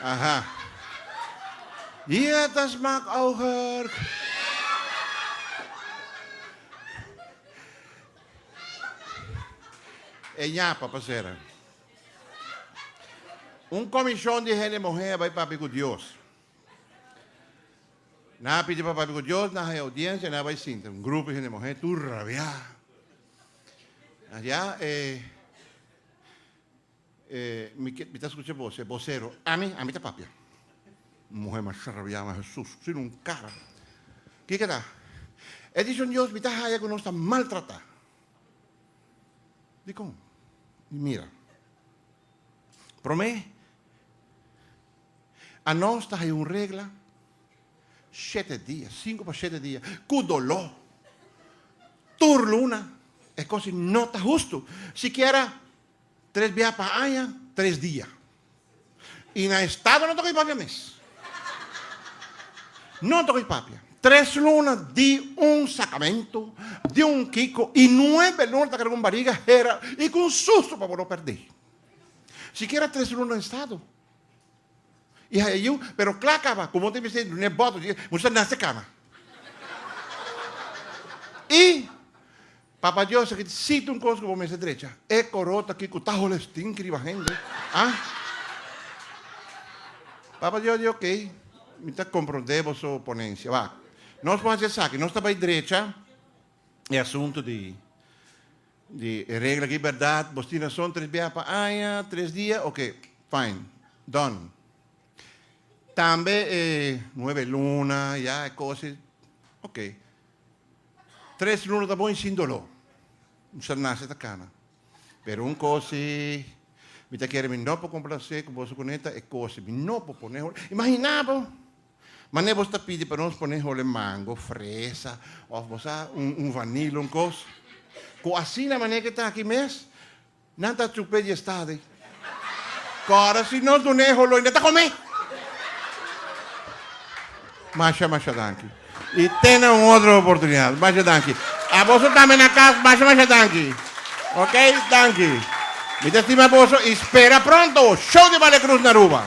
Aha. Hier das maak auger. E ñapa pasera. Un komishon di hende muhé a bai papia ku Dios. Nan a pidi pa papia ku Dios, nan hai oudiensia, nan a bai sinta. Un grupo hende muhé tur rabiá. Nan di, ah, eh. Eh, mi ke, mi ta skucha bo, se bosero. Ami? Ami ta papia. Muhe masha rabia, ma Hesus, si no un kara. Kiko ta? E dishon Dios mi ta haya ku nos ta maltrata. Dikon? Mi mira. Prome, anos ta haya un regla. Shete dia, sinku pa shete dia, ku doló, tur luna, e kos ei no ta hustu. Sikiera tres biaha pa aña, tres dia. I na e stado no ta ko'i papia mes. No ta ko'i papia. Tres luna di un sakamentu, di un kiko, i nuebe luna ta keda ku un bariga hera i ku un sustu pa bo no pèrdè. Sikiera tres luna na e stado. I haya yiu, pero kla kaba, komo ta mester duna e bòt, pasobra moest a nase kaba. I Papa Dios a keda siti un kos ku bo mester drecha, e koro ta kiko ta hole stinki riba hende, a? Papa Dios di, ok, mi ta komprondé boso ponensia. Wak, nos por hasi esaki, nos ta bai drecha e asuntu di Di e regla aki berdad, bos tin rason tres biaha pa aña, tres dia, oke, fine, dòn. Tambe e nuebe luna, ya, e cose, oke. Tres luna ta bon y sin doló. Un ser nace ta cana. Pero un cose, mi ta kere mi no por complacé cu boso cuneta, e cose mi no por pone, imaginá bo! Mane bos ta pidi pa nos pone hole mango, fresa of bo sa un vanila un cos. Cu asina mane ke ta aki mes nan ta chupe di estadi. Cora si nos dune e holoy nan ta come. Masha masha danki. Y tene un otro oportunidad. Masha danki. A boso tambe na cas masha masha danki. Ok danki. Mi ta stima boso y spera pronto Show di Bale Cruz na Aruba.